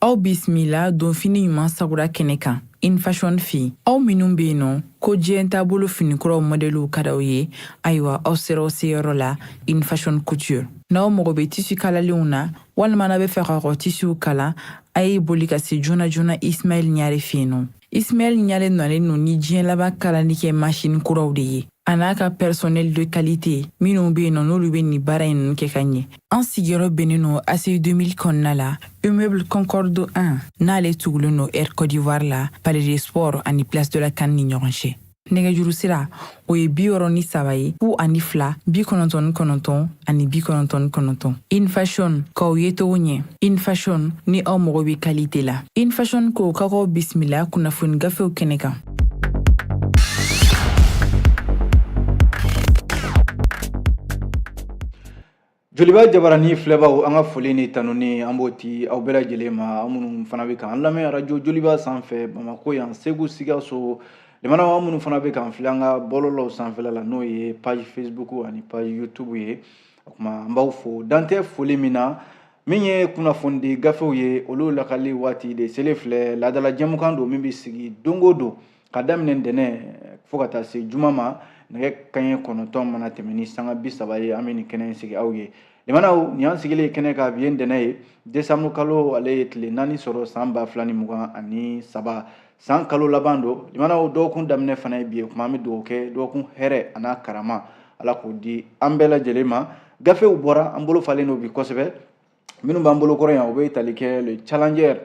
aw bisimila donfini ɲuman sagura kɛnɛ kan infashion fɛ aw minnu be yen nɔ ko diɲɛ taabolo finikuraw mɔdɛliw ka d'aw ye ayiwa aw sera aw seyɔrɔ la infashion couture n'aw mago be tisi kalalenw na walima n'a be fɛ ka kɔ tisiw kala a ye boli ka se joona joona ismail ɲare fɛ yen nɔ Ismail Ɲare nalen no ni diɲɛ laban kalali kɛ masini kuraw de ye a n'a ka personnel de qualité minnu bɛ yen nɔ n'olu bɛ nin baara in ninnu kɛ ka ɲɛ an sigiyɔrɔ bɛnnen no ACI 2000 kɔnɔna la immeuble concorde 1 n'ale tugulen no air cote d'ivoire la palais des sports ani place de la CAN ni ɲɔgɔn cɛ nɛgɛjuru sira o ye bi wɔrɔ ni saba ye fu ani fila bi kɔnɔntɔn ni kɔnɔntɔn ani bi kɔnɔntɔn ni kɔnɔntɔn infashion k'aw ye togo ɲɛ infashion ni aw mago bɛ kalite la infashion ko ka k'aw bisimila kunnafoni gafew kɛnɛ kan Joliba jabarani filɛbaw an ka foli ni tanuni an b'o di aw bɛɛ lajɛlen ma aw minnu fana bɛ k'an lamɛn arajo joliba sanfɛ Bamakɔ yan Segu Sikaso limanaw aw minnu fana bɛ k'an filɛ an ka bɔlɔlɔw sanfɛla la n'o ye page Facebook ani page YouTube ye o tuma an b'aw fo dan tɛ foli min na min ye kunnafonidi gafew ye olu lakali waati de selen filɛ laadala jɛmukan don min bɛ sigi don o don ka daminɛ ntɛnɛn fo ka taa se juma ma nɛgɛ kaɲɛ kɔnɔntɔn mana tɛmɛ ni sanga bi saba ye an bɛ nin kɛnɛ in sigi aw ye limanaw nin y'an sigilen ye kɛnɛ kan bi ye ntɛnɛn ye desanburu kalo ale ye tile naani sɔrɔ san ba fila ni mugan ani saba san kalo laban don limanaw dɔgɔkun daminɛ fana ye bi ye kuma an bɛ dugawu kɛ dɔgɔkun hɛrɛ an'a karama ala k'o di an bɛɛ lajɛlen ma gafew bɔra an bolo falen don bi kosɛbɛ minnu b'an bolo kɔrɔ yan u bɛ tali kɛ le challenger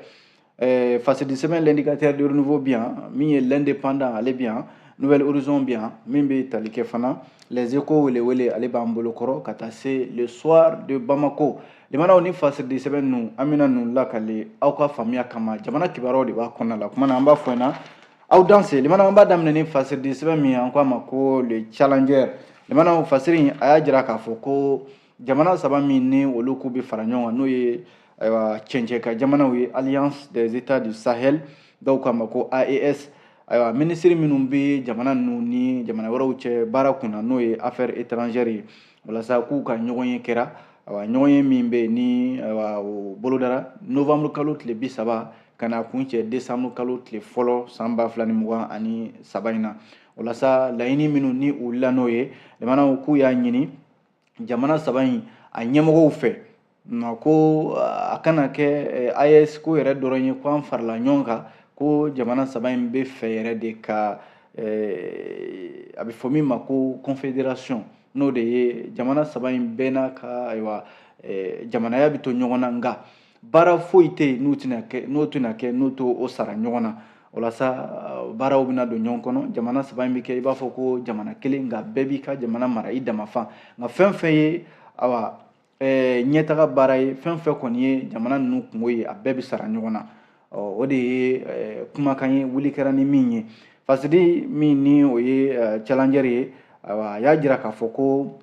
eh, facile de semaine l'indicateur du renouveau bi yan min ye l'indépendant ale bi yan nouvel horizon bi yan min bɛ tali kɛ fana les échos welewele ale b'an bolo kɔrɔ ka taa se le soir de bamako limanaw ni facile de semaine ninnu an bɛna ninnu lakali aw ka faamuya kama jamana kibaruyaw de b'a kɔnɔna la kuma na an b'a fɔ ɲɛna aw danse limanaw an b'a daminɛ ni facile de semaine min ye an k'a ma ko le challenger limanaw fasiri in a y'a jira k'a fɔ ko jamana saba min ni olu k'u bɛ fara ɲɔgɔn kan n'o ye ayiwa cɛncɛn ka jamanaw ye alliance des états du sahel dɔw k'a ma ko aes ayiwa minisiri minnu bɛ jamana ninnu ni jamana wɛrɛw cɛ baara kun na n'o ye affaires étrangères ye walasa k'u ka ɲɔgɔn ye kɛra ayiwa ɲɔgɔn ye min bɛ ni ayiwa o bolodara novembre kalo tile bi saba ka na kun cɛ décembre kalo tile fɔlɔ san ba fila ni mugan ani saba in na walasa laɲini minnu ni u wulila n'o ye jamanaw k'u y'a ɲini jamana saba in a ɲɛmɔgɔw fɛ ma ko a kana kɛ AES ko yɛrɛ dɔrɔn ye ko an farala ɲɔgɔn kan ko jamana saba in b'a fɛ yɛrɛ de ka a bɛ fɔ min ma ko confédération n'o de ye jamana saba in bɛɛ n'a ka ayiwa jamanaya bɛ to ɲɔgɔn na nka baara foyi tɛ yen n'o tɛna kɛ n'o tɛna kɛ n'u t'u sara ɲɔgɔn na walasa uh, baaraw bɛna don ɲɔgɔn kɔnɔ jamana saba in bɛ kɛ i b'a fɔ ko jamana kelen nka bɛɛ b'i ka jamana mara i dama fan nka fɛn fɛn ye awa eh, ɲɛtaga baara ye fɛn fɛn kɔni ye jamana ninnu kunko ye a bɛɛ bɛ sara ɲɔgɔn na o de ye eh, kumakan ye wuli kɛra ni min ye fasiri min ni o ye eh, challenger ye awa a y'a jira k'a fɔ ko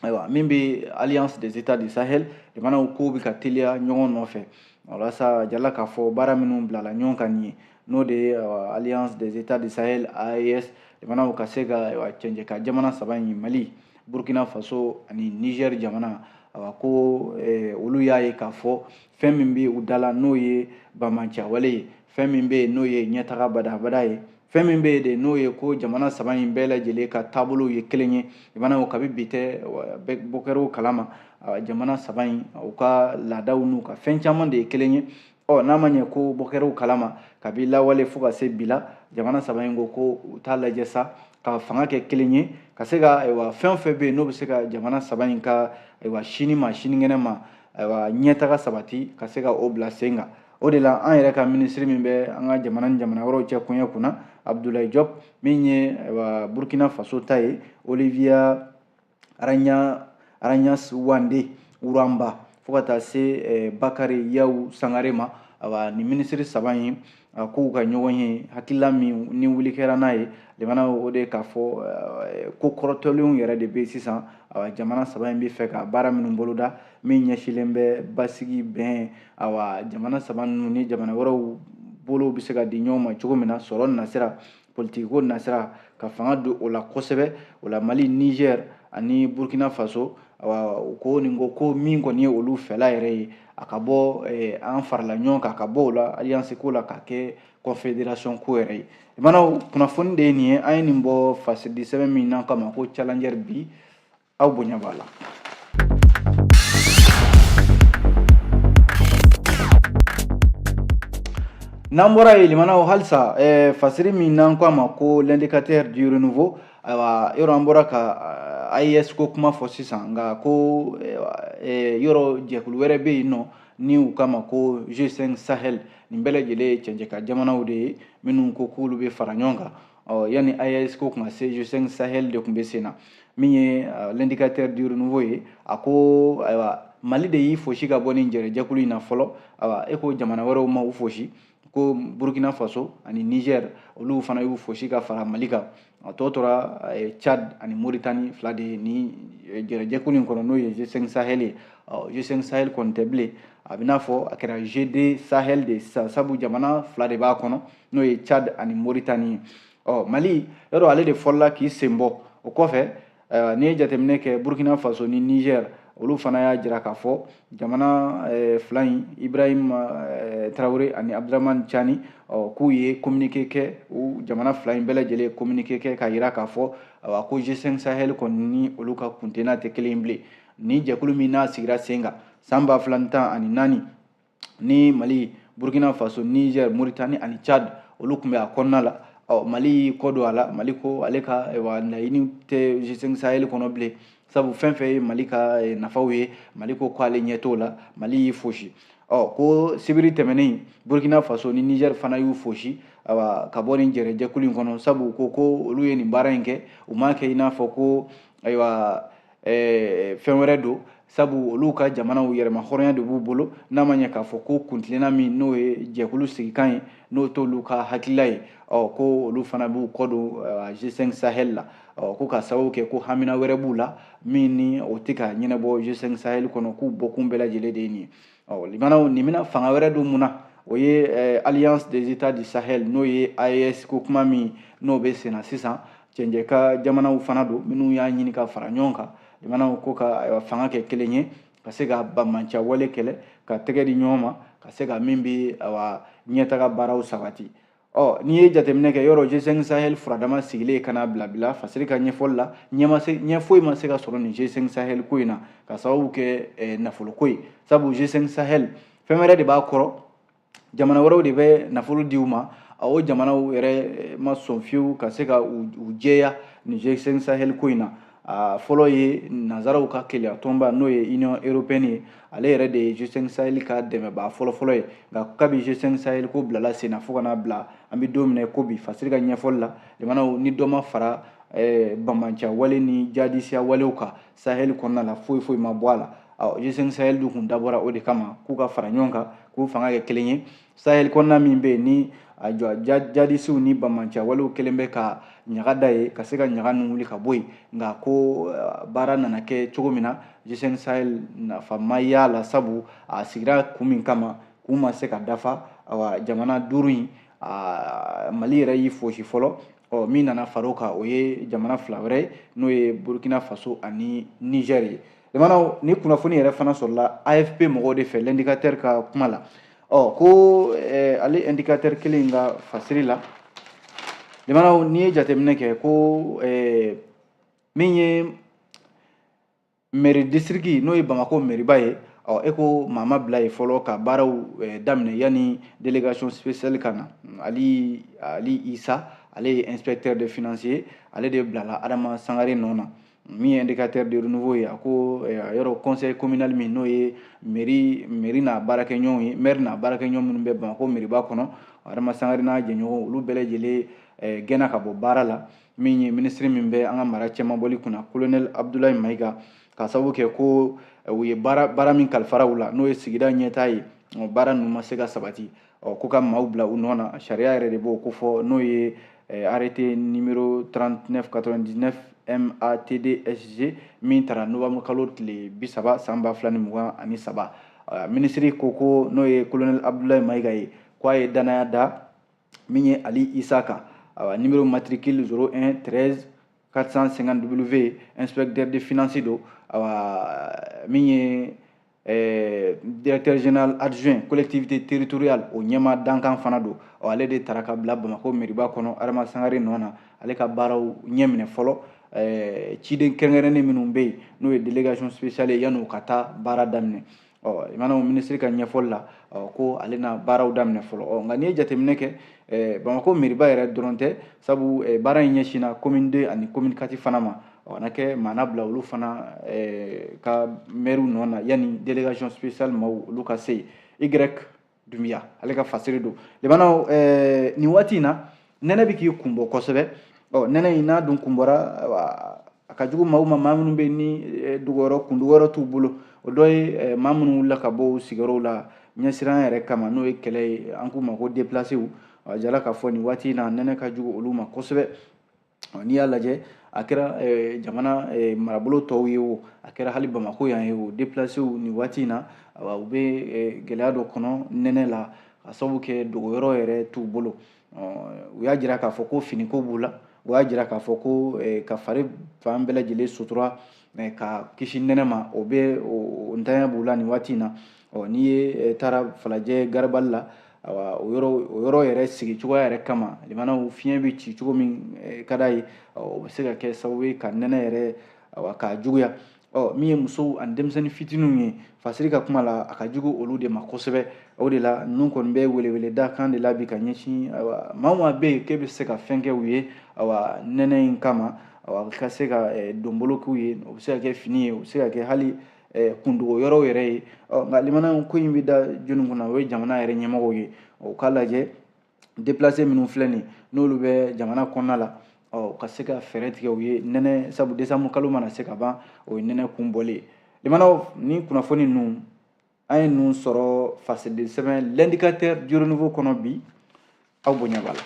ayiwa min bɛ alliance des états du sahel jamanaw kow bɛ ka teliya ɲɔgɔn nɔfɛ walasa jala k'a fɔ baara minnu bilala ɲɔgɔn kan nin ye n'o de ye alliance des états du sahel aes jamanaw ka se ka cɛncɛn kan jamana saba in mali burkina faso ani niger jamana awa ko eh, olu y'a ye k'a fɔ fɛn min bɛ u dala n'o ye banbaanciya wale ye fɛn min bɛ yen n'o ye ɲɛtaga badabada ye fɛn min bɛ yen de n'o ye ko jamana saba in bɛɛ lajɛlen ka taabolow ye kelen ye lamɛnnaw kabi bi tɛ bɔkɛrɛw kalama jamana saba in u ka laadaw n'u ka fɛn caman de ye kelen ye ɔ n'a ma ɲɛ ko bɔkɛrɛw kalama kabi lawale fo ka se bi la jamana saba in ko ko u t'a lajɛ sa ka fanga kɛ kelen ye ka se ka ayiwa fɛn o fɛn bɛ yen n'o bɛ se ka jamana saba in ka ayiwa sini ma sinikɛnɛ ma ayiwa ɲɛtaga sabati ka se ka o bila sen kan o de la an yɛrɛ ka minisiri min bɛ an ka jamana ni jamana wɛrɛw cɛ koɲɛ kunna abudulayi jɔp min ye burkina faso ta ye olivia ragnaghnewendé rouamba fo ka taa se eh, bakari yawu sangare ma awa nin minisiri saba in a ko u ka ɲɔgɔnye hakilila min ni wuli kɛra n'a ye jamana o de k'a fɔ eh, ko kɔrɔtɔlenw yɛrɛ de bɛ sisan awa jamana saba in b'a fɛ ka baara minnu boloda min ɲɛsilen bɛ basigi bɛn awa jamana saba ninnu ni jamana wɛrɛw bolow bɛ se ka di ɲɔgɔn ma cogo min na sɔrɔ nasira politikiko nasira ka fanga don o la kosɛbɛ o la mali niger ani burkina faso awa u ko nin ko ko min kɔni ye olu fɛla yɛrɛ ye a ka bɔ eh, an farala ɲɔgɔn kan ka bɔ o la alliance ko la ka kɛ confédération ko yɛrɛ ye lamɛnnaw kunnafoni de ye nin ye an ye nin bɔ fasiri sɛbɛn min n'an k'a ma ko challenger bi aw bonya b'a la n'an bɔra yen lamɛnnaw halisa eh, fasiri min n'an ko a ma ko l'indicateur du renouveau ayiwa yɔrɔ an bɔra ka eh, AES ko kuma fɔ sisan nka ko eh, yɔrɔ jɛkulu wɛrɛ bɛ yen nɔ ni u k'a ma ko G5 Sahel nin bɛɛ lajɛlen ye cɛncɛn kan jamanaw de ye minnu ko k'olu bɛ fara ɲɔgɔn kan ɔ yanni AES ko kun ka se G5 Sahel de kun bɛ sen na min ye euh, l'indicateur du renouveau ye a ko ayiwa Mali de y'i fosi ka bɔ nin jɛrɛjɛkulu in na fɔlɔ ayiwa e ko jamana wɛrɛw ma u fosi ko Burkina Faso ani Niger olu fana y'u fosi ka fara Mali kan a tɔ tora euh, Tchad ani Mauritanie fila de ye nin euh, jɛrɛjɛkulu in kɔnɔ n'o ye G5 Sahel ye ɔ G5 Sahel kɔni tɛ bilen a bɛ n'a fɔ a kɛra G2 Sahel de ye sisan sabu jamana fila de b'a kɔnɔ n'o ye tchad ani mauritanie ye ɔ mali yɔrɔ ale de fɔlɔla k'i sen bɔ o kɔfɛ ayiwa n'i ye jateminɛ kɛ burkina faso ni niger olu fana y'a jira k'a fɔ jamana eh, fila in ibrahim eh, traoré ani abdourahamane tiani k'u ye kominike kɛ u jamana fila in bɛɛ lajɛlen kominike kɛ k'a jira k'a fɔ awa ko g5 sahel kɔni ni olu ka kuntena tɛ kelen bilen ni jɛkulu min n'a sigira sen kan san ba fila ni tan ani naani ni mali burkina faso niger mauritanie ani tchad olu kun bɛ a kɔnɔna la ɔ mali y'i kɔ don a la mali ko ale ka wa laɲini tɛ g5 sahel kɔnɔ bilen sabu fɛn fɛn ye mali ka eh, nafaw ye mali ko ko ale ɲɛ t'o la mali y'i fosi ɔ ko sibiri tɛmɛnen burkina faso ni niger fana y'u fosi awa ka bɔ nin jɛrɛjɛkulu in kɔnɔ sabu ko ko olu ye nin baara in kɛ u m'a kɛ i n'a fɔ ko ayiwa eh, fɛn wɛrɛ don sabu olu ka jamanaw yɛrɛmahɔrɔnya de b'u bolo n'a ma ɲɛ k'a fɔ ko kuntilenna min n'o ye jɛkulu sigikan ye n'o t'olu ka hakilila ye ɔ ko olu fana b'u kɔ don g5 sahel la ɔ ko ka sababu kɛ ko hamina wɛrɛ b'u la min ni o tɛ ka ɲɛnabɔ g5 sahel kɔnɔ k'u bɔkun bɛɛ lajɛlen de ye nin ye ɔ limanaw nin bɛna fanga wɛrɛ don mun na o ye eh, alliance des états du sahel n'o ye aes ko kuma min n'o bɛ senna sisan cɛncɛn kan jamanaw fana don minnu y'a ɲini ka fara ɲɔgɔn kan limanaw ko ka eh, fanga kɛ kelen ye ka se ka bamanciya wale kɛlɛ ka tɛgɛ di ɲɔgɔn ma ka se ka min bɛ ɲɛtaga baaraw sabati Ɔ n'i ye jateminɛ kɛ yɔrɔ G5 Sahel furadama sigilen ka n'a bila bi la fasiri ka ɲɛfɔli la ɲɛ foyi ma se ka sɔrɔ nin G5 Sahel ko in na ka sababu kɛ eh, nafolo ko ye sabu G5 Sahel fɛn wɛrɛ de b'a kɔrɔ jamana wɛrɛw de bɛ nafolo di u ma o jamanaw yɛrɛ eh, ma sɔn fiyewu ka se ka u jɛya nin G5 Sahel ko in na a fɔlɔ ye nanzaraw ka kelenya tɔnba n'o ye union européenne ye ale yɛrɛ de ye g5 sahel ka dɛmɛbaa fɔlɔfɔlɔ ye nka kabi g5 sahel ko bilala sen na fo ka n'a bila an bɛ don min na i ko bi fasiri ka ɲɛfɔli la jamanaw ni dɔ ma fara eh, bamanciya wale ni jadisiya walew kan sahel kɔnɔna la foyi foyi ma bɔ a la g5 sahel dun kun dabɔra o de kama k'u ka fara ɲɔgɔn kan k'u fanga kɛ kelen ye sahel kɔnɔna min bɛ yen ni a jɔ jadisiw ni bamanciya walew kelen bɛ ka ɲaga da yen ka se ka ɲaga ninnu wuli ka bɔ yen nka ko eh, baara nana kɛ cogo min na g5 sahel nafa ma y'a la sabu a sigira kun min kama k'u ma se ka dafa awa jamana duuru in mali yɛrɛ y'i fosi fɔlɔ ɔ min nana far'o kan o ye jamana fila wɛrɛ ye n'o ye burkina faso ani niger ye limanaw nin kunnafoni yɛrɛ fana sɔrɔla afp mɔgɔw de fɛ l'indicateur ka kuma la ɔ ko eh, ale indicateur kelen ka fasiri la limanaw n'i ye jateminɛ kɛ ko eh, min ye meri disiriki n'o ye bamako meriba ye ɔ e ko maa ma bila yen fɔlɔ ka baaraw eh, daminɛ yanni délégation spéciale ka na ali isa ale ye inspecteur des finances ye ale de bilala adama sangare nɔ na min ye indicateur de renouveau ye a ko eh, yɔrɔ conseil communal min n'o ye meri meri n'a baarakɛɲɔgɔnw ye maire n'a baarakɛɲɔgɔn minnu bɛ bamako meriba kɔnɔ adama sangare n'a jɛɲɔgɔnw olu bɛɛ lajɛlen eh, gɛnna ka bɔ baara la min ye minisiri min bɛ an ka mara cɛmabɔli kunna kolonɛli abudulayi mayiga ka sababu kɛ ko eh, u ye baara baara min kalifara u la n'o ye sigida ɲɛtaa ye baara ninnu ma se ka sabati ko ka maaw bila u nɔ na sariya yɛrɛ de b'o ko fɔ n'o ye eh, arrêté numéro 39 99 MATDSG min tara novembre kalo tile bi saba san ba fila ni mugan ani saba minisiri ko ko n'o ye kolonɛli abudulayi mayiga ye k'a ye danaya da min ye ali isa kan awa numéro matricule 01 13 450 w inspecteur des finances don awa min ye eh, directeur général adjoint collectivité territoriale o ɲɛmaa dankan fana don ɔ ale de tara ka bila bamakɔ meriba kɔnɔ adama sangare nɔ na ale ka baaraw ɲɛ minɛ fɔlɔ eh, ciden kɛrɛnkɛrɛnnen minnu bɛ yen n'o ye délégation spéciale ye yanni u ka taa baara daminɛ ɔ limanaw minisiri ka ɲɛfɔli la ɔ ko ale na baaraw daminɛ fɔlɔ ɔ nka n'i ye jateminɛ kɛ ɛ bamakɔ meriba yɛrɛ dɔrɔn tɛ sabu ɛ baara in ɲɛsinna commune deux ani commune quatre fana ma ɔ na kɛ maa na bila olu fana ɛ ka mɛriw nɔ na yanni délégation spéciale maaw olu ka se yen y dunbiya ale ka fasiri don limanaw eh, nin waati in na nɛnɛ bɛ k'i kun bɔ kosɛbɛ ɔ nɛnɛ in n'a dun kun bɔra a ka jugu maaw ma maa minnu bɛ ni eh, dogoyɔrɔ kundogoyɔrɔ t'u bolo o dɔ ye eh, maa minnu wulila ka bɔ u sigiyɔrɔw la ɲɛsiran yɛrɛ kama n'o ye kɛlɛ ye an k'u ma ko depilasew a jala k'a fɔ nin waati in na nɛnɛ ka jugu olu ma kosɛbɛ n'i y'a lajɛ a kɛra eh, jamana eh, marabolo tɔw ye o a kɛra hali bamako yan ye o deplasew nin waati in na u bɛ eh, gɛlɛya dɔ kɔnɔ nɛnɛ la ka sabu kɛ dogoyɔrɔ yɛrɛ t'u bolo u y'a jira k'a fɔ ko finiko b'u la u y'a jira k'a fɔ ko ka fari fan bɛɛ lajɛlen sutura ka kisi nɛnɛ ma o bɛ o ntanya b'u la nin waati in na ɔ n'i ye taara falajɛ garibali la awa o yɔrɔ o yɔrɔ yɛrɛ sigi cogoya yɛrɛ kama limanaw fiɲɛ bɛ ci cogo min ka da yen o bɛ se ka kɛ sababu ye ka nɛnɛ yɛrɛ awa k'a juguya ɔ min ye musow ani denmisɛnnin fitininw ye fasiri ka kuma la a ka jugu olu de ma kosɛbɛ o de la ninnu kɔni bɛ weleweleda kan de la bi ka ɲɛsin awa maa o maa bɛ yen k'e bɛ se ka fɛn kɛ u ye awa nɛnɛ in kama awa ka se ka donbolo k'u ye o bɛ se ka kɛ fini ye o bɛ se ka kɛ hali Eh, kundogo yɔrɔw yɛrɛ ye nka limanaw ko in bɛ da jɔnni kunna o ye jamana yɛrɛ ɲɛmɔgɔw ye o k'a lajɛ deplase minnu filɛ nin n'olu bɛ jamana kɔnɔna la ɔ ka se ka fɛɛrɛ tigɛ u ye nɛnɛ sabu desanbu kalo mana se ka ban o ye nɛnɛ kun bɔlen limanaw ni kunnafoni ninnu an ye ninnu sɔrɔ fasidi sɛbɛn l'indicateur du renouveau kɔnɔ bi aw bonya b'a la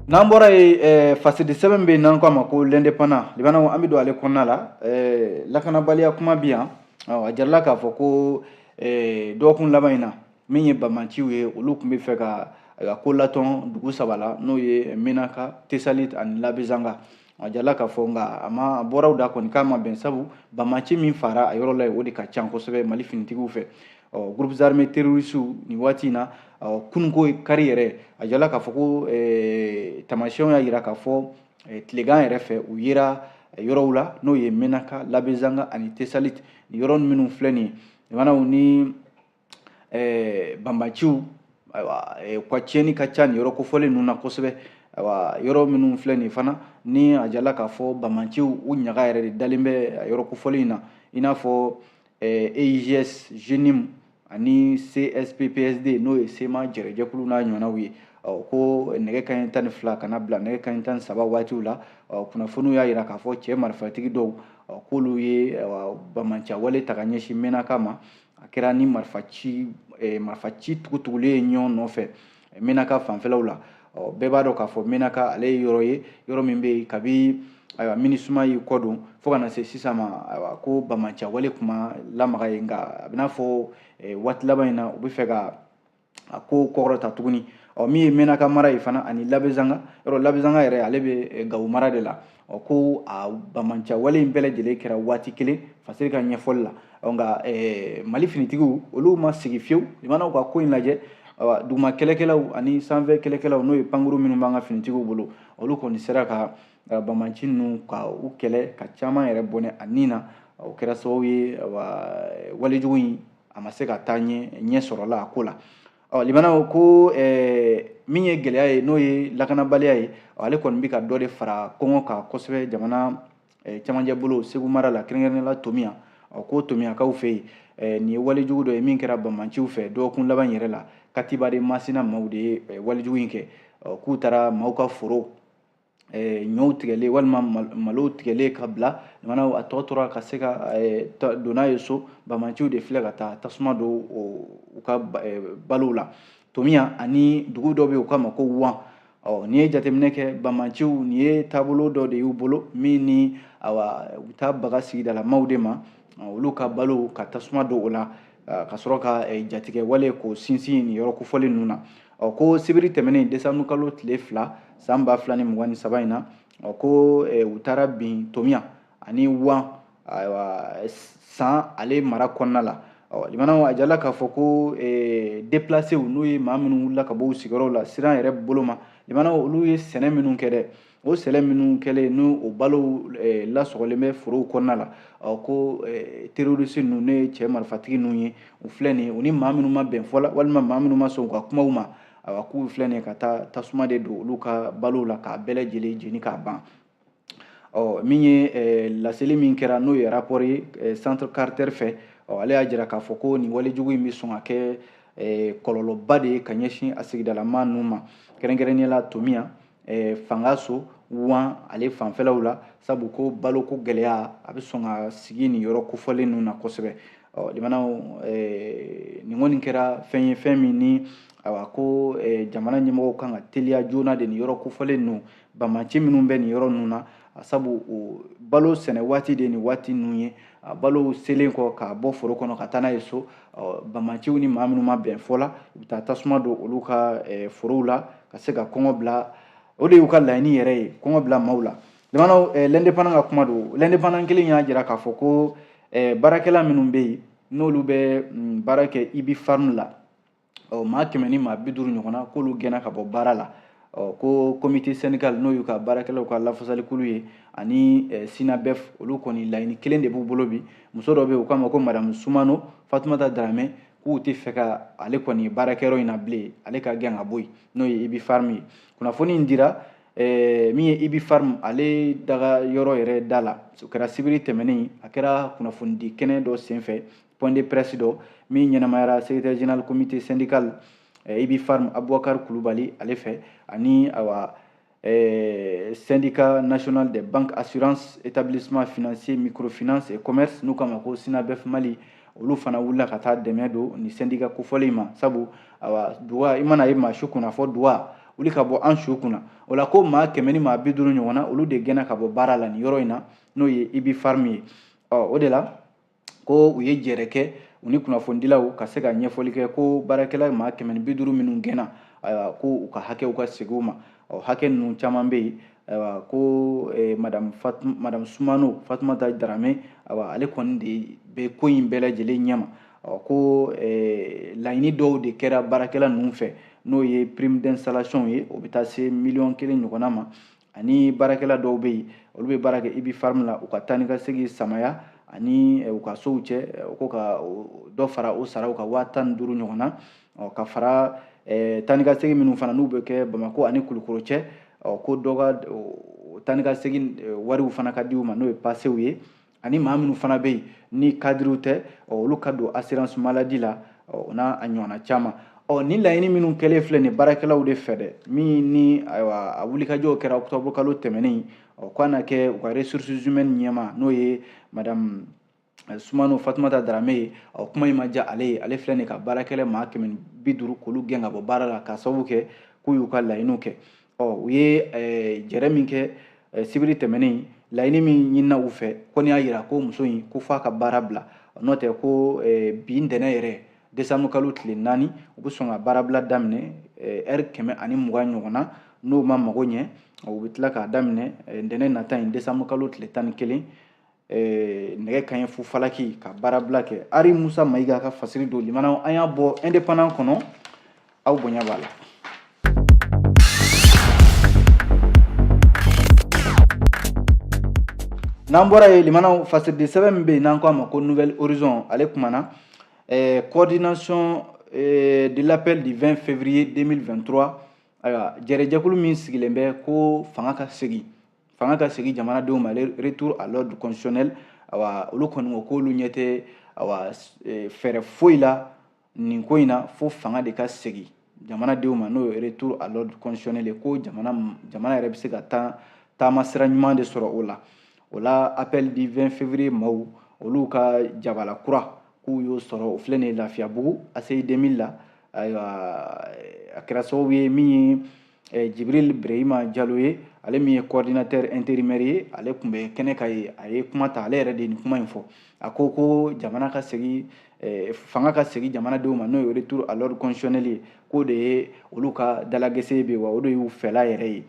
n'an bɔra yen eh, fasidi sɛbɛn bɛ yen n'an ko a ma ko l'indépendant limanaw an bɛ don ale kɔnɔna la eh, lakanabaliya kuma bɛ yan a jarala k'a fɔ ko eh, dɔgɔkun laban in na min ye bamanciw ye olu tun bɛ fɛ ka a ko latɔn dugu saba la n'o ye menaka tesalit ani labezanga a jala k'a fɔ nka a ma a bɔra u da kɔni k'a ma bɛn sabu bamaci min fara a yɔrɔ la yen o de ka ca kosɛbɛ mali finitigiw fɛ ɔ groupe armé terrorisiw nin waati in na ɔ kununko kari yɛrɛ a jala k'a fɔ ko eh, tamasiyɛnw y'a jira k'a fɔ eh, tilegan yɛrɛ fɛ u yera eh, yɔrɔw la n'o ye menaka labezanga ani tesalit nin yɔrɔ minnu filɛ nin ye limanaw ni eh, banbaciw ayiwa eh, u ka tiɲɛni ka ca nin yɔrɔ kofɔlen ninnu na kosɛbɛ ayiwa yɔrɔ minnu filɛ nin fana ni a jala k'a fɔ banbaciw u ɲaga yɛrɛ de dalen bɛ yɔrɔ kofɔlen in na i n'a fɔ eh, eigs jnim ani csp psd n'o ye sema jɛrɛjɛkulu n'a ɲɔgɔnnaw ye ko nɛgɛ kanɲɛ tan ni fila ka na bila nɛgɛ kanɲɛ tan ni saba waatiw la kunnafoniw y'a jira k'a fɔ cɛ marifatigi dɔw k'olu ye bamanciya wale ta ka ɲɛsin menaka ma a kɛra ni marifa ci eh, marifa ci tugutugulen ye ɲɔgɔn nɔfɛ eh, menaka fanfɛlaw la ɔ bɛɛ b'a dɔn k'a fɔ menaka ale ye yɔrɔ ye yɔrɔ min bɛ yen kabi ayiwa minusma y'i kɔ don fo ka na se sisan ma ayiwa ko bamanciya wale tun ma lamaga yen nka a b'i n'a fɔ eh, waati laban in na u bɛ fɛ ka a ko kɔrɔta tuguni ɔ min ye menaka mara ye fana ani labezanga yɔrɔ labezanga yɛrɛ ale bɛ eh, gawo mara de la ɔ ko a bamanciya wale in bɛɛ lajɛlen kɛra waati kelen fasiri ka ɲɛfɔli la ɔ nka eh, mali finitigiw olu ma sigi fiyewu limanaw ka ko in lajɛ duguma kɛlɛkɛlaw ani sanfɛ kɛlɛkɛlaw n'o ye pankuru minnu b'an ka finitigiw bolo olu kɔni sera ka eh, bamanci ninnu ka u kɛlɛ ka caman yɛrɛ bɔnɛ a ni na o kɛra sababu ye walejugu in a ma se ka taa ɲɛ ɲɛ sɔrɔla a ko la ɔ jumana ko ɛɛ min ye gɛlɛya ye n'o ye lakanabaliya ye ale kɔni bɛ ka dɔ de fara kɔngɔ kan kosɛbɛ jamana cɛmancɛ bolo segu mara la kɛrɛnkɛrɛnnenya la tomiɲan ɔ ko tomiɲankaw fɛ yen Eh, nin ye walejugu dɔ ye min kɛra banbaanciw fɛ dɔgɔkun laban yɛrɛ la katiba de masina maaw de ye eh, walejugu in kɛ k'u taara maaw ka foro eh, ɲɔw tigɛlen walima malow tigɛlen ka bila jumana a tɔ tora ka se ka eh, don n'a ye so banbaanciw de filɛ ka taa tasuma don u ka eh, balow la tomiɲan ani dugu dɔ bɛ yen u k'a ma ko wan ɔ n'i ye jateminɛ kɛ banbaanciw nin ye taabolo dɔ de y'u bolo min ni awa u bɛ taa baga sigidalamaw de ma olu ka balow ka tasuma don o la ka sɔrɔ ka jatigɛwale k'o sinsin nin yɔrɔ kofɔlen ninnu na ɔ ko sibiri tɛmɛnen desanburu kalo tile fila san ba fila ni mugan ni saba in na ɔ ko eh, u taara bin tomiɲan ani wan ayiwa san ale mara kɔnɔna la ɔ jumana a jirala k'a fɔ ko eh, deplasew n'o ye maa minnu wulila ka bɔ u sigiyɔrɔw la siran yɛrɛ bolo ma jumana olu ye sɛnɛ minnu kɛ dɛ o sɛnɛ minnu kɛlen n'o o balow eh, lasɔgɔlen bɛ forow kɔnɔna la ɔ ko eh, terorisi ninnu n'o ye cɛ marifatigi ninnu ye u filɛ nin ye u ni maa minnu ma bɛn fɔ la walima maa minnu ma sɔn u ka kumaw ma awa k'u filɛ nin ye ka taa tasuma de don olu ka balow la k'a bɛɛ lajɛlen jeni k'a ban ɔ min ye eh, laseli min kɛra n'o ye rapport ye eh, centre carter fɛ ɔ ale y'a jira k'a fɔ ko nin walejugu in bɛ sɔn ka kɛ eh, kɔlɔlɔba de ye ka ɲɛsin a sigidalama ninnu ma kɛrɛnkɛrɛnnenya la tomiɲan eh, fangaso wan ale fanfɛlaw la sabu ko baloko gɛlɛya a bɛ sɔn ka sigi nin yɔrɔ kofɔlen ninnu na kosɛbɛ jumana eh, nin kɔni kɛra fɛn ye fɛn min ni awa ko eh, jamana ɲɛmɔgɔw kan ka teliya joona de nin yɔrɔ kofɔlen ninnu banbaanci minnu bɛ nin yɔrɔ ninnu na sabu o balo sɛnɛ waati de nin waati ninnu ye a balow selen kɔ k'a bɔ foro kɔnɔ ka taa n'a ye so banbaanciw ni maa minnu ma bɛn fɔ la u bɛ taa tasuma don olu ka eh, forow la ka se ka kɔngɔ bila o de y'u ka laɲini yɛrɛ ye kɔngɔ bila maaw la jumana eh, l'indépendant ka kuma don l'indépendant kelen y'a jira k'a fɔ ko eh, baarakɛla minnu bɛ yen n'olu bɛ mm, baara kɛ ubipharm la ɔ maa kɛmɛ ni maa bi duuru ɲɔgɔnna k'olu gɛnna ka bɔ baara la ɔ ko comité syndical n'o y'u ka baarakɛlaw ka lafasalikulu ye ani eh, synabef olu kɔni laɲini kelen de b'u bolo bi muso dɔ bɛ yen u k'a ma ko madamu sumano fatumata daramɛ k'u tɛ fɛ ka ale kɔni baarakɛyɔrɔ in na bilen ale ka gɛn ka bɔ yen n'o ye ubipharm ye kunnafoni in dira eh, min ye ubipharm ale dagayɔrɔ yɛrɛ da la o kɛra sibiri tɛmɛnen a kɛra kunnafonidi kɛnɛ dɔ senfɛ point de presse dɔ min ɲɛnamayara secrétaire général comité syndical eh, ubipharm abubakar kulubali ale fɛ ani awa eh, syndicat national des banques assurances établissements financiers microfinance et commerce n'u k'a ma ko SYNABEF mali olu fana wulila ka taa dɛmɛ don nin syndicat kofɔlen ma sabu awa duga i mana ye maa su kunna fɔ duga wuli ka bɔ an su kunna o la ko maa kɛmɛ ni maa bi duuru ɲɔgɔnna olu de gɛnna ka bɔ baara la nin yɔrɔ in na n'o ye Ubipharm ye ɔ o de la ko u ye jɛrɛ kɛ u ni kunnafonidilaw ka se ka ɲɛfɔli kɛ ko baarakɛla maa kɛmɛ ni bi duuru minnu gɛnna ko u ka hakɛw ka segin u ma ɔ hakɛ ninnu caman bɛ yen ko e, madame Fatum, madame Soumano Fatoumata Darame awa ale kɔni de bɛ ko in bɛɛ lajɛlen ɲɛma ɔ ko e, laɲini dɔw de kɛra baarakɛla ninnu fɛ n'o ye prime d'installation ye o bɛ taa se miliyɔn kelen ɲɔgɔnna ma ani baarakɛla dɔw bɛ yen olu bɛ baara kɛ Ubipharm la u ka taa ni ka segin samaya ani eh, u ka sow cɛ eh, ko ka dɔ fara o saraw kan waa tan ni duuru ɲɔgɔnna ka fara eh, taa ni ka segin minnu fana n'u bɛ kɛ bamakɔ ani kulukoro cɛ ko dɔ ka taa ni ka segin wariw fana ka di u ma n'o ye pasew ye ani maa minnu fana bɛ yen ni cadrew tɛ olu ka don assurance maladie la o n'a ɲɔgɔnna caman ɔ ni laɲini minnu kɛlen filɛ nin baarakɛlaw de fɛ dɛ min ni ayiwa a wulikajɔw kɛra octobre kalo tɛmɛnen ɔ k'a na kɛ u ka ressources humaines ɲɛmaa n'o ye madame eh, sumano fatumata darame ye ɔ kuma in ma diya ale ye ale filɛ nin ka baarakɛla maa kɛmɛ bi duuru k'olu gɛn ka bɔ baara la k'a sababu kɛ k'u y'u ka laɲiniw kɛ ɔ u ye eh, jɛrɛ min kɛ eh, sibiri tɛmɛnen laɲini min ɲinina u fɛ kɔni y'a jira ko muso in ko f'a ka baara bila n'o tɛ ko eh, bi ntɛnɛn yɛrɛ desanburu kalo tile naani u bɛ sɔn ka baarabila daminɛ ɛri kɛmɛ ani mugan ɲɔgɔnna n'o ma mago ɲɛ u bɛ tila k'a daminɛ ntɛnɛn nata in desanburu kalo tile tan ni kelen eh, nɛgɛ kaɲɛ fu falaki ka baarabila kɛ ari musa mayiga ka fasiri don limanaw an y'a bɔ indépendant kɔnɔ aw bonya b'a la n'an bɔra yen limanaw fasiridi sɛbɛn min bɛ yen n'an ko a ma ko Nouvel Horizon ale kumana eh, coordination eh, de l'appel du 20 février 2023 ayiwa jɛrɛjɛkulu min sigilen bɛ ko fanga ka segin fanga ka segin jamanadenw ma retour à l'ordre constitutionnel awa olu kɔni ko k'olu ɲɛ tɛ awa e, fɛɛrɛ foyi la nin ko in na fo fanga de ka segin jamanadenw ma n'o ye retour à l'ordre constitutionnel ye ko jamana jamana yɛrɛ bɛ se ka taa taama sira ɲuman de sɔrɔ o la o la appel du 20 février maaw olu ka jabala kura k'u y'o sɔrɔ o filɛ nin ye lafiyabugu ACI 2000 la ayiwa a kɛra sababu ye min ye eh, jibril brehima jalo ye ale min ye coordinateur intérimaire ye ale tun bɛ kɛnɛ kan yen a ye kuma ta ale yɛrɛ de ye nin kuma in fɔ a ko ko jamana ka segin eh, fanga ka segin jamanadenw ma n'o ye retour à l'ordre constitutionnel ye k'o de ye olu ka dalagɛsɛ bɛ wa o de y'u fɛla yɛrɛ ye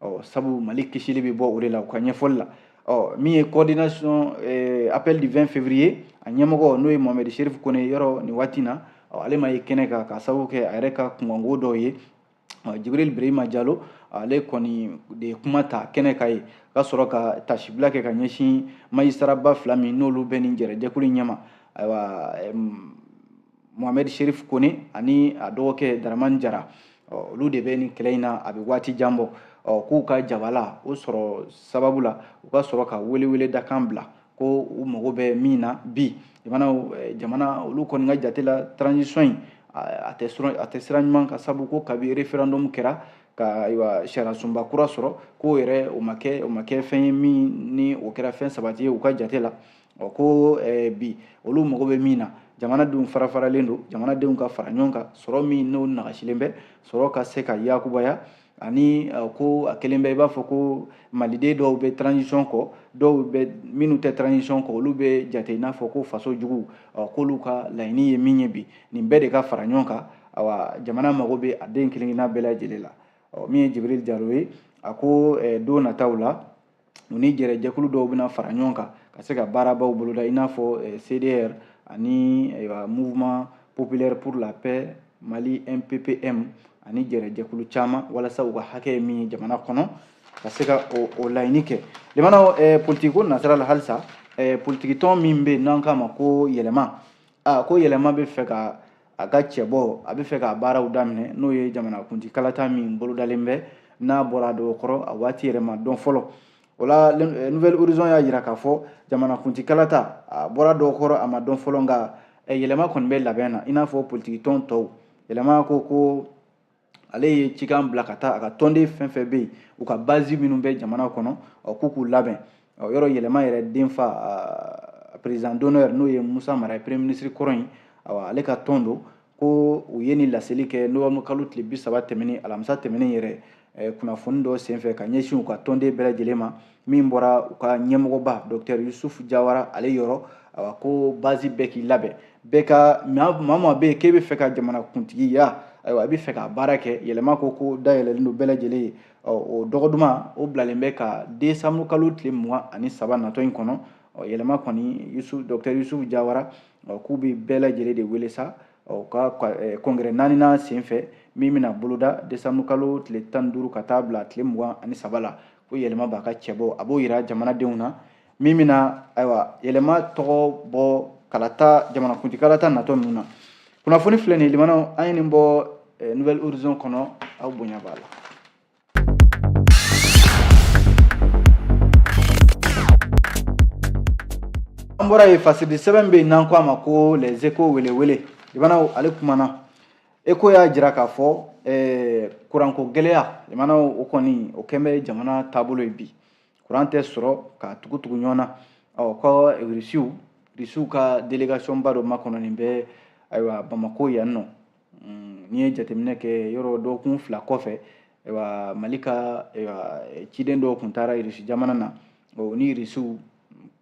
ɔ sabu mali kisili bɛ bɔ o de la u ka ɲɛfɔli la ɔ min ye coordination eh, appel du 20 février a ɲɛmɔgɔ n'o ye mohamed sherif kone yɔrɔ nin waati na ɔ ale ma ye kɛnɛ kan k'a sababu kɛ a yɛrɛ ka kunkanko dɔw ye jibril brehima jalo ale kɔni de ye kuma ta kɛnɛ kan yen ka sɔrɔ ka tasibila kɛ ka ɲɛsin majistaraba fila min n'olu bɛ nin jɛrɛjɛkulu ɲɛma ayiwa mohamɛd sherif kone ani a dɔgɔkɛ daramani jara olu de bɛ nin kɛlɛ in na a bɛ waati jan bɔ k'u ka jabala o sɔrɔ sababu la u ka sɔrɔ ka weleweleda kan bila ko u mago bɛ min na bi jamana eh, jamana olu kɔni ka jate la transition in a tɛ sɔrɔ a tɛ sira ɲuman kan sabu ko kabi referendum kɛra ka ayiwa sariyasunba kura sɔrɔ k'o yɛrɛ o ma kɛ o ma kɛ fɛn ye min ni o kɛra fɛn sabati ye u ka jate la ɔ ko eh, bi olu mago bɛ min na jamanadenw farafaralen don jamanadenw ka fara ɲɔgɔn kan sɔrɔ min n'o nagasilen bɛ sɔrɔ ka se ka yakubaya ani uh, ko a kɛlen bɛ i b'a fɔ ko maliden dɔw bɛ transition kɔ dɔw bɛ minnu tɛ transition kɔ olu bɛ jate i n'a fɔ ko faso jugu uh, k'olu ka laɲini ye min ye bi nin bɛɛ de ka fara ɲɔgɔn kan awa jamana mago bɛ a den kelen-kelenna bɛɛ lajɛlen la ɔ min ye jibril jalo ye a ko eh, don nataw la u ni jɛrɛjɛkulu dɔw bɛna fara ɲɔgɔn kan ka se ka baarabaw boloda i n'a fɔ eh, cdr ani eh, mouvement populaire pour la paix mali mppm ani jɛrɛjɛkulu caman walasa u ka hakɛ ye min ye jamana kɔnɔ ka se ka o laɲini kɛ limanaw eh, politiki ko nasira la halisa politikitɔn min bɛ yen n'an k'a ma ko yɛlɛma aa ko yɛlɛma bɛ fɛ ka a ka cɛbɔ a bɛ fɛ k'a baaraw daminɛ n'o ye jamanakuntigi kalata min bolodalen bɛ n'a bɔra a dɔgɔ kɔrɔ a waati yɛrɛ ma dɔn fɔlɔ o la eh, nouvel horizon y'a jira k'a fɔ jamanakuntigi kalata a bɔra dɔgɔ kɔrɔ a ma dɔn fɔlɔ nka eh, yɛlɛma kɔni bɛ labɛn na i n'a fɔ politiki tɔn tɔw yɛlɛma ko ko ale ye cikan bila ka taa a ka tɔnden fɛn fɛn bɛ yen u ka bazi minnu bɛ jamana kɔnɔ k'u k'u labɛn yɔrɔ yɛlɛma yɛrɛ denfa président d'honneur n'o ye musa mara ye premier ministre kɔrɔ in ale ka tɔn don ko u ye nin laseli kɛ novembre kalo tile bi saba tɛmɛnen alamisa tɛmɛnen yɛrɛ kunnafoni dɔ senfɛ ka ɲɛsin u ka tɔnden bɛɛ lajɛlen ma min bɔra u ka ɲɛmɔgɔba docteur yusufu jawara ale yɔrɔ a ko base bɛɛ k'i labɛn bɛɛ ka maa ma bɛ yen k'e bɛ fɛ ka jamana kuntigiya ayiwa a bɛ fɛ ka baara kɛ yɛlɛma ko ko dayɛlɛlen don bɛɛ lajɛlen ye o dɔgɔduma o bilalen bɛ ka desanburu kalo tile mugan ani saba natɔ in kɔnɔ yɛlɛma kɔni docteur yusufu jawara k'u bɛ bɛɛ lajɛlen de wele sa ka congrès naaninan senfɛ min bɛna boloda desanburu kalo tile tan duuru ka taa bila tile mugan ani saba la ko yɛlɛma b'a ka cɛ bɔ a b'o yira jamanadenw na min bɛna ayiwa yɛlɛma tɔgɔ bɔ kalata jamanakuntigi kalata natɔ ninnu na kunnafoni filɛ nin ye limanaw an ye nin bɔ eh, nouvel horizon kɔnɔ aw bonya b'a la an bɔra yen fasiri sɛbɛn bɛ yen n'an ko a ma ko les échos welewele limanaw ale kumana Échos y'a jira k'a fɔ eh, kuranko gɛlɛya limanaw o kɔni o kɛn bɛ jamana taabolo ye bi kuran tɛ sɔrɔ ka tugutugu ɲɔgɔn na ɔ ko irisi irisiw ka delegation ba dɔ makɔnɔnin bɛ ayiwa bamako yan nɔ mm, n'i ye jateminɛ kɛ yɔrɔ dɔgɔkun fila kɔfɛ ayiwa mali ka ayiwa ciden dɔw tun taara irisi jamana na o ni irisiw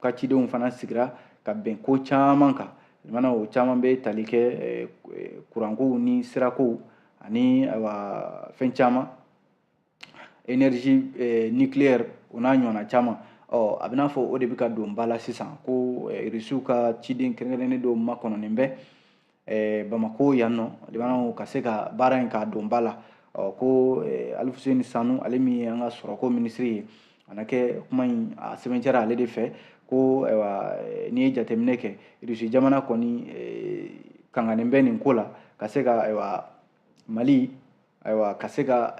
ka cidenw fana sigira ka bɛn ko caman kan limanaw o caman bɛ tali kɛ eh, eh, kurankow ni sirakow ani ayiwa fɛn caman energie eh, nucléaire o n'a ɲɔgɔnna caman ɔ a bɛ n'a fɔ o de bɛ ka don ba la sisan ko irisiw ka ciden kɛrɛnkɛrɛnnen dɔw makɔnɔnen bɛ eh, bamako yan nɔ limanaw ka se ka baara in k'a don ba la ɔ ko eh, alifuseni sanu ale min ye an ka sɔrɔko minisiri ye a na kɛ kuma in a sɛbɛntiyara ale de fɛ ko ayiwa eh, n'i ye jateminɛ kɛ irisi jamana kɔni eh, kanganen bɛ nin ko la ka se ka ayiwa mali ayiwa ka se ka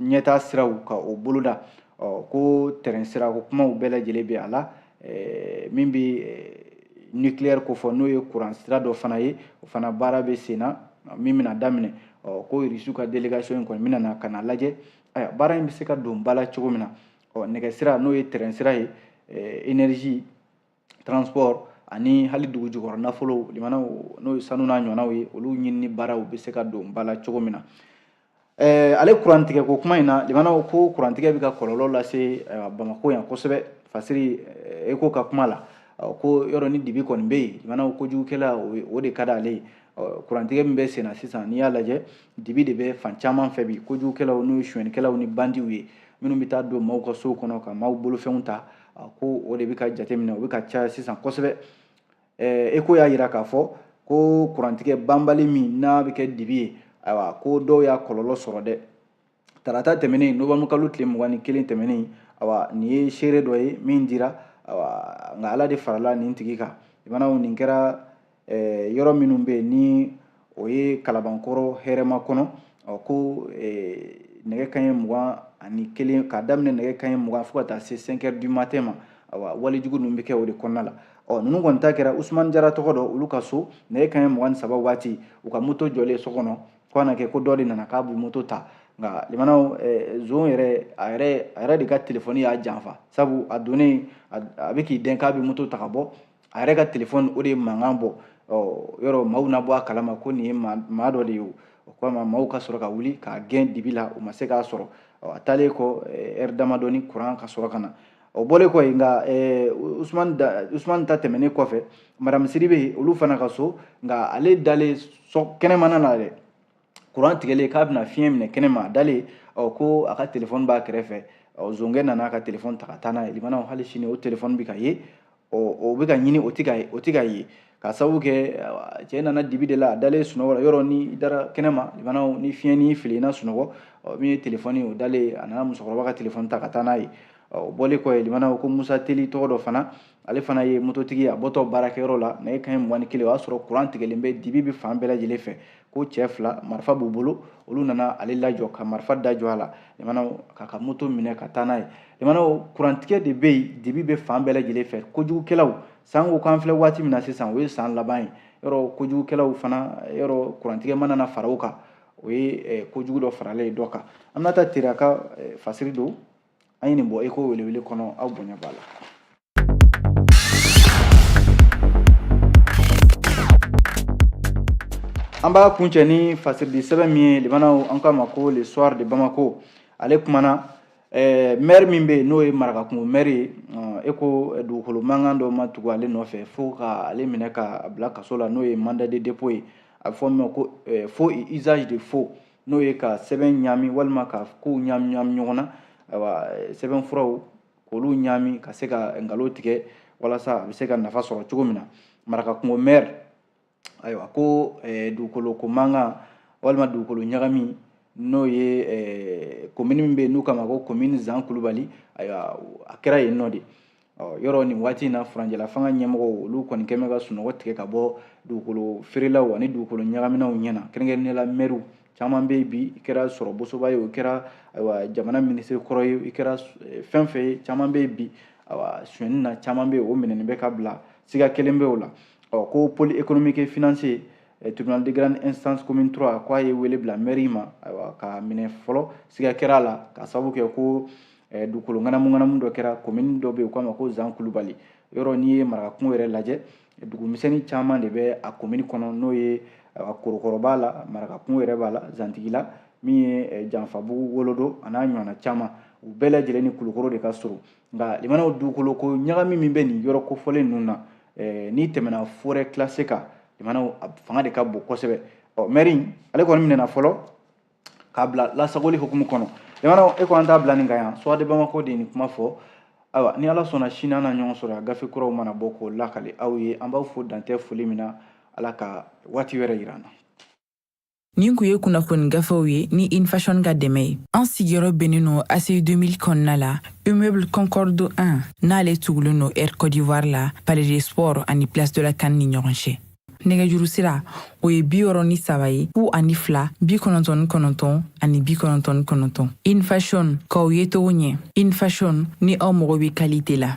ɲɛtaa siraw ka o boloda ko tɛrɛn sira ko kumaw bɛɛ lajɛlen bɛ a la min bɛ nucleaire ko fɔ n'o ye kuran sira dɔ fana ye o fana baara bɛ sen na min bɛna daminɛ ɔ ko irisiw ka delegation in kɔni bɛna na ka na lajɛ ayiwa baara in bɛ se ka don ba la cogo min na ɔ nɛgɛsira n'o ye tɛrɛnsira ye energie transport ani hali dugu jukɔrɔ nafolo limanaw n'o ye sanu n'a ɲɔgɔnnaw ye olu ɲinini baaraw bɛ se ka don ba la cogo min na eh, ale kurantigɛ ko kuma in na limanaw ko kurantigɛ bɛ ka kɔlɔlɔ lase eh, bamako yan kosɛbɛ fasiri eh, échos ka kuma la ko yɔrɔ ni dibi kɔni bɛ yen limanaw kojugukɛla o de ka d'ale ye kurantigɛ min bɛ senna sisan n'i y'a lajɛ dibi de bɛ fan caman fɛ bi kojugukɛlaw n'o ye sonyɛnikɛlaw ni bandiw ye minnu bɛ taa don maaw ka sow kɔnɔ ka maaw bolofɛnw ta a ko o de bɛ ka jateminɛ o bɛ ka caya sisan kosɛbɛ eko y'a jira k'a fɔ ko kurantigɛ banbali min n'a bɛ kɛ dibi ye ayiwa ko dɔw y'a kɔlɔlɔ sɔrɔ dɛ tarata tɛmɛnen nowanburu kalo tile mugan ni kelen tɛmɛnen ayiwa nin ye seere dɔ ye min dira ayiwa nka ala de farala nin tigi kan limanaw nin kɛra eh, yɔrɔ minnu bɛ yen ni o ye kalabankɔrɔ hɛrɛmakɔnɔ ɔ ko eh, nɛgɛ kanɲɛ mugan ani kelen k'a daminɛ nɛgɛ kanɲɛ mugan fo ka taa se 5 heures du matin ma awa walejugu ninnu bɛ kɛ o de kɔnɔna la ɔ ninnu kɔni ta kɛra usumani jara tɔgɔ dɔ olu ka so nɛgɛ kanɲɛ mugan ni saba waati u ka moto jɔlen so kɔnɔ ko a na kɛ ko dɔ de nana k'a bɛ moto ta nka limanaw eh, zon yɛrɛ a yɛrɛ a yɛrɛ de ka telefɔni y'a janfa sabu a donnen a bɛ k'i dɛn k'a bɛ moto ta ka bɔ a yɛrɛ ka telefɔni o de ye mankan bɔ yɔrɔ maaw na bɔ a kalama ko nin ye maa dɔ de ye o kama maaw ka sɔrɔ ka wuli k'a gɛn dibi la u ma se k'a sɔrɔ a taalen kɔ ɛri damadɔni kuran ka sɔrɔ ka na o bɔlen kɔ yen nka usumani ta tɛmɛnen kɔfɛ madamu sidibe olu fana ka so nka ale dalen kɛnɛmana na dɛ kuran tigɛlen k'a bɛna fiɲɛ minɛ kɛnɛ ma a dalen ɔ ko a ka telefɔni b'a kɛrɛfɛ ɔ zonkɛ nana ka telefɔni ta ka taa n'a ye limanaw hali sini o telefɔni bɛ ka ye ɔ o bɛ ka ɲini o tɛ ka ye o tɛ ka ye ka sababu kɛ cɛ nana dibi de la a dalen sunɔgɔ la yɔrɔ ni i dara kɛnɛ ma limanaw ni fiɲɛ ni fili na sunɔgɔ ɔ min ye telefɔni o dalen a nana musokɔrɔba ka telefɔni ta ka taa n'a ye o bɔlen kɔ yen limanaw ko musa teli tɔgɔ dɔ fana ale fana ye mototigi a bɔtɔ baarakɛyɔrɔ la nɛgɛ kanɲɛ mugan ni kelen o y'a sɔrɔ kuran tigɛlen bɛ dibi bɛ fan bɛɛ lajɛlen fɛ ko cɛ fila marifa b'u bolo olu nana ale lajɔ ka marifa da jɔ a la limanaw k'a ka moto minɛ ka taa n'a ye limanaw kurantigɛ de bɛ yen dibi bɛ fan bɛɛ lajɛlen fɛ kojugukɛlaw sanko k'an filɛ waati min na sisan o ye san laban ye yɔrɔ kojugukɛlaw fana yɔrɔ kurantigɛ mana na fara o kan o ye eh, kojugu dɔ faralen ye dɔ kan an bɛna taa teraka eh, fasiri don an ye nin bɔ eko welewele kɔnɔ aw bonya b'a la An b'a kuncɛ ni fasiridisɛbɛn min ye limanaw an k'a ma ko le soir de bamako ale kumana mɛri min bɛ yen n'o ye marakakungo mɛri ye e ko dugukolo mankan dɔ ma tugu ale nɔfɛ fo ka ale minɛ ka bila kaso la n'o ye mandat de dépôt ye a bɛ fɔ min ma ko faux et usage de faux n'o ye ka sɛbɛn ɲaami walima ka kow ɲaami ɲɔgɔn na ayiwa sɛbɛn furaw k'olu ɲaami ka se ka nkalon tigɛ walasa a bɛ se ka nafa sɔrɔ cogo min na marakakungo mɛri ayiwa ko eh, dugukolo ko mankan walima dugukolo ɲagami n'o ye eh, komini min bɛ yen n'u k'a ma ko komini zan kulubali ayiwa a kɛra yen nɔ de yɔrɔ nin waati in na furanjɛla fanga ɲɛmɔgɔw olu kɔni kɛlen bɛ ka sunɔgɔ tigɛ ka bɔ dugukolo feerelaw ani dugukolo ɲagaminaw ɲɛ na kɛrɛnkɛrɛnnenya la mɛriw caman bɛ yen bi i kɛra sɔrɔ bosoba ye i kɛra ayiwa jamana minisiri kɔrɔ ye i kɛra eh, fɛn fɛn ye caman bɛ yen bi ayiwa sonyɛni na caman bɛ yen o minɛnen bɛ ka bila siga kelen bɛ o la ɔ ko pôle économique et financier eh, tribunal de grande instance commune 3 k'a ye wele bila mɛri ma ayiwa k'a minɛ fɔlɔ siga kɛra a la k'a sababu kɛ ko eh, dugukolo ŋanamu ŋanamu dɔ kɛra komini dɔ bɛ yen u k'a ma ko zan kulubali yɔrɔ n'i ye marakakungo yɛrɛ lajɛ dugumisɛnnin caman de bɛ a komini kɔnɔ n'o ye korokɔrɔ b'a la marakakungo yɛrɛ b'a la zantigila min ye eh, janfabugu wolodo a n'a ɲɔgɔnna caman u bɛɛ lajɛlen ni kulukɔrɔ de ka surun nka limanaw dugukolo ko ɲagami min bɛ nin yɔrɔ kofɔlen ninnu na eh, n'i tɛmɛna forɛ kilase kan limanaw fanga de ka bon kosɛbɛ ɔ mɛri ale kɔni minɛna fɔlɔ k'a bila lasagoli hukumu kɔnɔ jamana e ko an t'a bila nin kan yan soir de bamako de ye nin kuma fɔ ayiwa ni ala sɔnna sini an na ɲɔgɔn sɔrɔ yan gafe kuraw mana bɔ k'o lakali aw ye an b'aw fo dantɛ foli min na ala ka waati wɛrɛ yira an na nin kun ye kunnafoni gafew ye ni infashɔn ka dɛmɛ ye an sigiyɔrɔ bɛnnen no aci 2000 kɔnɔna la immeuble concorde 1 n'ale tugulen no air côte d'ivoire la palais des sports ani place de la can ni ɲɔgɔn cɛ nɛgɛjuru sira o ye bi wɔɔrɔ ni saba ye fu ani fila bi kɔnɔntɔn ni kɔnɔntɔn ani bi kɔnɔntɔn ni kɔnɔntɔn infashon k'aw yecogo ɲɛ infashon ni aw mago bɛ kalite la